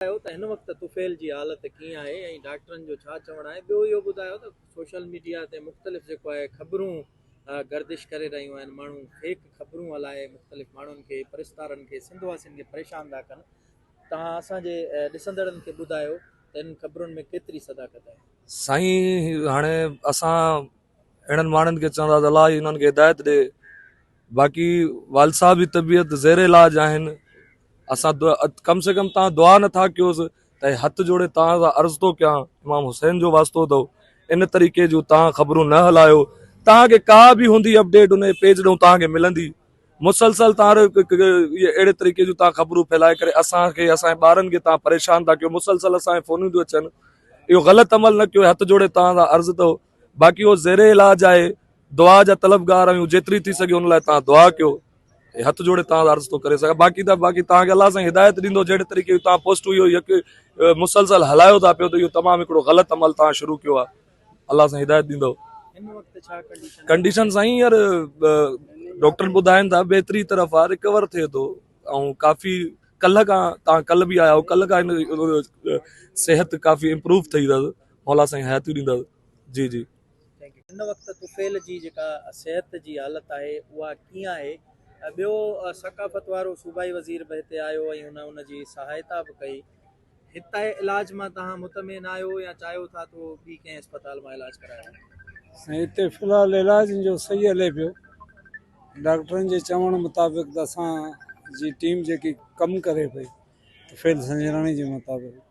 ٻڌايو ته هن وقت طفيل جي حالت ڪيئن آهي ۽ ڊاڪٽرن جو ڇا چوڻ آهي ٻيو اهو ٻڌايو ته سوشل ميڊيا تي مختلف جيڪو آهي خبرون گردش ڪري رهيون آهن ماڻهو فيڪ خبرون هلائي مختلف ماڻهن کي پرستارن کي سنڌ واسين کي پريشان ٿا ڪن توهان اسان جي ڏسندڙن کي ٻڌايو ته ان خبرن ۾ ڪيتري صداقت آهي سائين هاڻي اسان اهڙن ماڻهن کي چوندا ته الله ئي انهن کي هدايت ڏي باقي والد صاحب جي طبيعت زير علاج آهن اسان ڪم سي ڪم تان دعا نٿا ڪيوس ته هٿ جوڙي تان سان عرض ٿو ڪيان امام حسين جو واسطو اٿو ان طريقي جون تان خبرون نه هلايو تان کي ڪا به هوندي اپڊيٽ ان پيج ڏون تان کي ملندي مسلسل تان اهڙي طريقي جون تان خبرون ڦيلائي ڪري اسان کي اسان جي ٻارن کي تان پريشان ٿا ڪيو مسلسل اسان جي فونون ٿيون اچن اهو غلط عمل نه ڪيو هٿ جوڙي تان سان عرض اٿو باقي هو زير علاج آهي دعا جا طلبگار آهيون جيتري ٿي سگهي ان لاء تان دعا ڪيو اي هٿ جوڙي تان عرض تو ڪري سگهان باقي ته باقي تان کي الله سان هدايت ڏيندو جهڙي طريقي تان پوسٽ هيو يڪ مسلسل هلايو ٿا پيو ته اهو تمام هڪڙو غلط عمل تان شروع ڪيو آ الله سان هدايت ڏيندو ڪنڊيشن سائين يار ڊاڪٽر ٻڌائن ٿا بهتري طرف آ رڪور ٿئي ٿو ۽ ڪافي ڪلهه کان تان ڪلهه به آيا هو ڪلهه کان صحت ڪافي امپروو ٿئي اٿس مولا سائين حياتيون ڏيندا جي جي. هن وقت طفيل جي جيڪا صحت جي حالت آهي اها ڪيئن آهي ٻيو ثقافت وارو صوبائي وزير به هتي آيو ۽ هن ان جي سهائتا به ڪئي هتي علاج مان توهان مطمئن آهيو يا چاهيو ٿا ٿو ٻي ڪنهن اسپتال مان علاج ڪرايو وڃي. سائين هتي في الحال علاج جو صحيح هلي پيو ڊاڪٽرن جي چوڻ مطابق ته اسان جي ٽيم جيڪي ڪم ڪري پئي طفيل سنجراڻي جي مطابق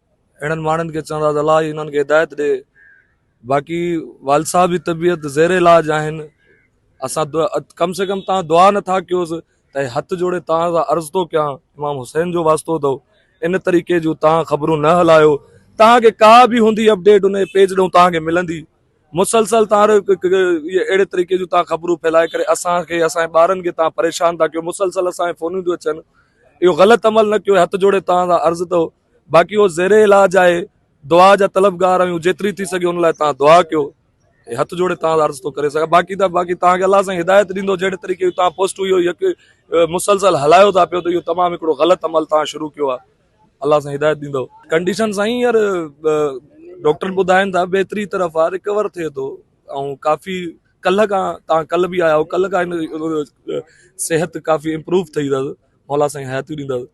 اهڙن ماڻهن کي چوندا ته الله ئي انهن کي هدايت ڏي باقي والد صاحب جي طبيعت زير علاج آهن اسان ڪم سي ڪم تان دعا نٿا ڪيوس ته هٿ جوڙي تان سان عرض ٿو ڪيان امام حسين جو واسطو اٿو ان طريقي جون تان خبرون نه هلايو تان کي ڪا به هوندي اپڊيٽ ان پيج ڏون تان کي ملندي مسلسل تان اهڙي طريقي جون تان خبرون ڦيلائي ڪري اسان کي اسان جي ٻارن کي تان پريشان ٿا ڪيو مسلسل اسان کي فونون ٿيون اچن اهو غلط عمل نه ڪيو هٿ جوڙي تان سان عرض اٿو باقي هو زير علاج آهي، دعا جا طلبگار آهيون، جيتري ٿي سگهي ان لاء توهان دعا ڪيو. هي هٿ جوڙي توهان سان عرض ٿو ڪري سگهان، باقي ته باقي توهان کي الله سائين هدايت ڏيندو، جهڙي طريقي جون توهان پوسٽون اهو يڪ مسلسل هلايو ٿا پيو ته اهو تمام هڪڙو غلط عمل توهان شروع ڪيو آهي، الله سائين هدايت ڏيندو. ڪنڊيشن سائين هينئر ڊاڪٽر ٻڌائين ٿا بهتري طرف آهي، رڪور ٿئي ٿو ۽ ڪافي ڪلهه کان توهان ڪلهه به آيا هئو، ڪلهه کان صحت ڪافي امپروو ٿئي اٿس، مولا سائين حياتيون ڏيندس.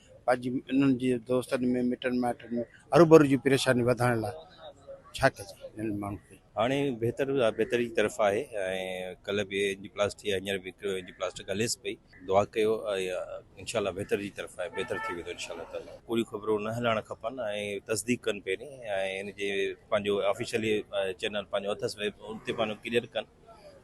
پنهنجي انهن جي دوستن ۾ مٽن مائٽن ۾ هروڀرو جي پريشاني وڌائڻ لاء ڇا ڪجي انهن ماڻهن کي. هاڻي بهتر بهتري جي طرف آهي ۽ ڪلهه به اينجيوپلاسٽي ۽ هينئر به اينجيوپلاسٽڪ هليس پئي دعا ڪيو انشاء الله بهتر جي طرف آهي بهتر ٿي ويندو انشاء الله تعالي ڪوڙيون خبرون نه هلائڻ کپن ۽ تصديق ڪن پهرين ۽ ان جي پنهنجو آفيشلي چينل پنهنجو اٿس ان تي پنهنجو ڪليئر ڪن.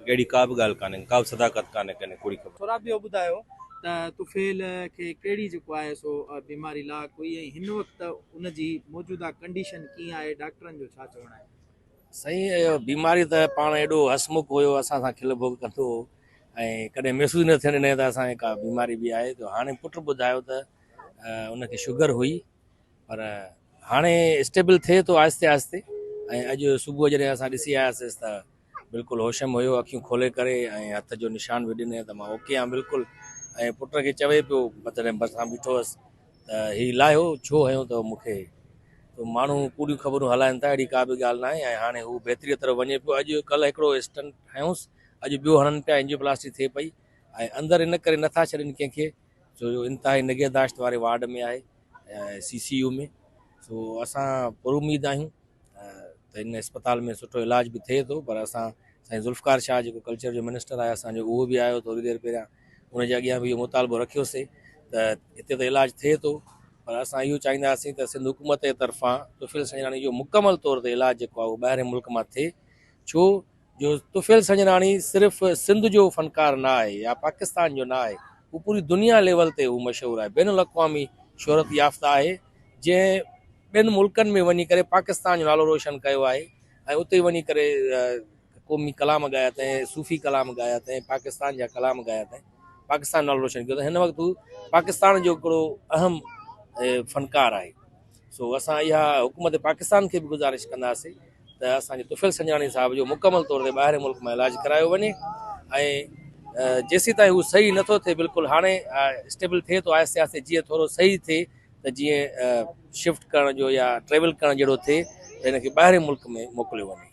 اهڙي ڪا به ڳالهه ڪانهي. ڪا به صداقت ڪانهي ڪنهن ڪوڙي خبر. ٿورا ٻيو ٻڌايو ته طفيل کي ڪهڙي جيڪو آهي سو بيماري لا ڪوئي ۽ هن وقت ان جي موجوده ڪنڊيشن ڪيئن آهي ڊاڪٽرن جو ڇا چوڻ آهي. سائين اهو بيماري ته پاڻ ايڏو هسمک هيو اسان سان کل ڀوڳ ڪندو هو ۽ ڪڏهن محسوس ئي نه ٿيڻ ڏنائين ته اسان کي ڪا بيماري به آهي ته هاڻي پٽ ٻڌايو ته ان کي شگر هئي پر هاڻي اسٽيبل ٿئي ٿو آهستي آهستي ۽ اڄ صبح جڏهن اسان ڏسي آياسيس ته بلڪل هوشم هيو اکيون کولي ڪري ۽ هٿ جو نشان به ڏني ته مان اوڪي آهيان بلڪل ۽ پٽ کي چوي پيو مطلب بسان بيٺو هس ته هي لاهيو ڇو هيو ته مونکي تو ماڻهو ڪوڙيون خبرون هلائن ٿا اهڙي ڪا به ڳالهه نه آهي ۽ هاڻي هو بهتري طرف وڃي پيو اڄ ڪل هڪڙو اسٽنٽ هيوس اڄ ٻيو هڻن پيا انجيوپلاسٽي ٿئي پئي ۽ اندر ان ڪري نٿا ڇڏين ڪنهن کي ڇو جو انتهائي نگهداشت واري وارڊ ۾ آهي سي سي يو ۾ سو اسان پر اميد آهيون ته ان اسپتال ۾ سٺو علاج به ٿئي ٿو پر اسان سائين ذوالفقار شاهه جيڪو ڪلچر جو منسٽر آهي اسانجو اهو به آيو ٿوري دير پهريان ان جي اڳيان به اهو مطالبو رکيوسي ته هتي ته علاج ٿئي ٿو پر اسان اهو چاهينداسين ته سنڌ حڪومت جي طرفان طفيل سنجراڻي جو مڪمل طور تي علاج جيڪو آهي اهو ٻاهرين ملڪ مان ٿئي ڇو جو طفيل سنجراڻي صرف سنڌ جو فنڪار نه آهي يا پاڪستان جو نه آهي هو پوري دنيا ليول تي هو مشهور آهي بين الاقوامي شهرت يافته آهي جنهن ٻين ملڪن ۾ وڃي ڪري پاڪستان جو نالو روشن ڪيو آهي ۽ اتي وڃي ڪري قومي ڪلام ڳايا اٿائين صوفي ڪلام ڳايا اٿائين پاڪستان جا ڪلام ڳايا اٿائين پاڪستان نالو روشن ڪيو اٿائين هن وقت هو پاڪستان جو هڪڙو اهم فنڪار آهي سو اسان اها حڪومت پاڪستان کي به گذارش ڪنداسين ته اسان جي طفيل سنجاڻي صاحب جو مڪمل طور تي ٻاهرين ملڪ مان علاج ڪرايو وڃي ۽ جيسي تائين هو صحيح نٿو ٿئي بلڪل هاڻي اسٽيبل ٿئي ٿو آهستي آهستي جيئن ٿورو صحيح ٿئي ته جيئن شفٽ ڪرڻ جو يا ٽريول ڪرڻ جهڙو ٿئي ته هن کي ٻاهرين ملڪ ۾ موڪليو وڃي